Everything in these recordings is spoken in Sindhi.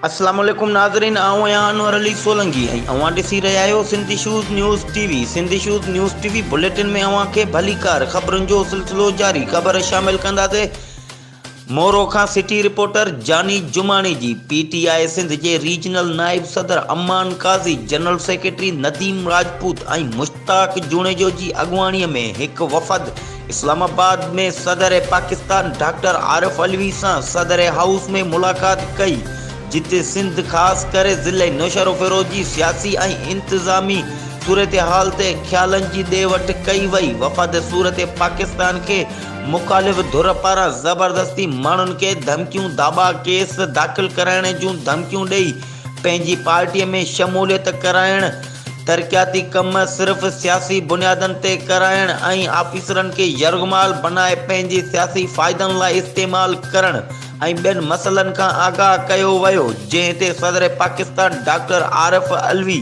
السلام عليڪم ناظرين آئون آهيان انور علي سولنگي ۽ اوهان ڏسي رهيا آهيو Sindhi shows news T V Sindhi shows news T V bulletin ۾ اوهان کي ڀليڪار خبرن جو سلسلو جاري خبر شامل ڪنداسين مورو کان سٽي رپورٽر جاني جماڻي جي پي ٽي آء سنڌ جي ريجنل نائب صدر امان قاضي، جنرل سيڪريٽري نديم راجپوت ۽ مشتاق جوڻيجو جي اڳواڻي ۾ هڪ وفد اسلام آباد ۾ صدر پاڪستان ڊاڪٽر عارف علوي سان صدر هائوس ۾ ملاقات ڪئي جتي سنڌ خاص ڪري ضلعي نوشهروفيروز جي سياسي ۽ انتظامي صورتحال تي خيالن جي ڏي وٺ ڪئي وئي وفد صورت پاڪستان کي مخالف ڌر پاران زبردستي ماڻهن کي ڌمڪيون داٻا ڪيس داخل ڪرائڻ جون ڌمڪيون ڏئي پنهنجي پارٽي ۾ شموليت ڪرائڻ، ترقياتي ڪم صرف سياسي بنيادن تي ڪرائڻ ۽ آفيسرن کي يرغمال بنائي پنهنجي سياسي فائدن لاء استعمال ڪرڻ ۽ ٻين مسئلن کان آگاهه ڪيو ويو جنهن تي صدر پاڪستان ڊاڪٽر عارف علوي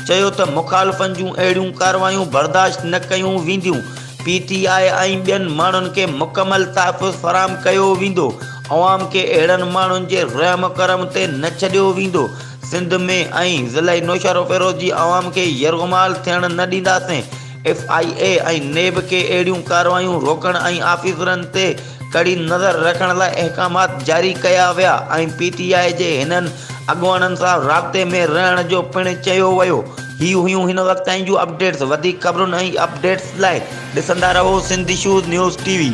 چيو ته مخالفن جون اهڙيون ڪارروايون برداشت نه ڪيون وينديون پي ٽي آء ۽ ٻين ماڻهن کي مڪمل تحفظ فراهم ڪيو ويندو، عوام کي اهڙن ماڻهن جي رحم و ڪرم تي نه ڇڏيو ويندو، سنڌ ۾ ۽ ضلعي نوشهروفيروز جي عوام کي يرغمال ٿيڻ نه ڏينداسين، ايف آء اي ۽ نيب کي اهڙيون ڪارروايون روڪڻ ۽ آفيسرن تي ڪڙي نظر رکڻ لاء احڪامات جاري ڪيا ويا ۽ پي ٽي آء جي هنن اڳواڻن سان رابطي ۾ رهڻ جو پڻ چيو ويو. هي هيون هن وقت تائين جون اپڊيٽس وڌيڪ خبرن ۽ اپڊيٽس لاء ڏسندا رهو Sindh issues news T V.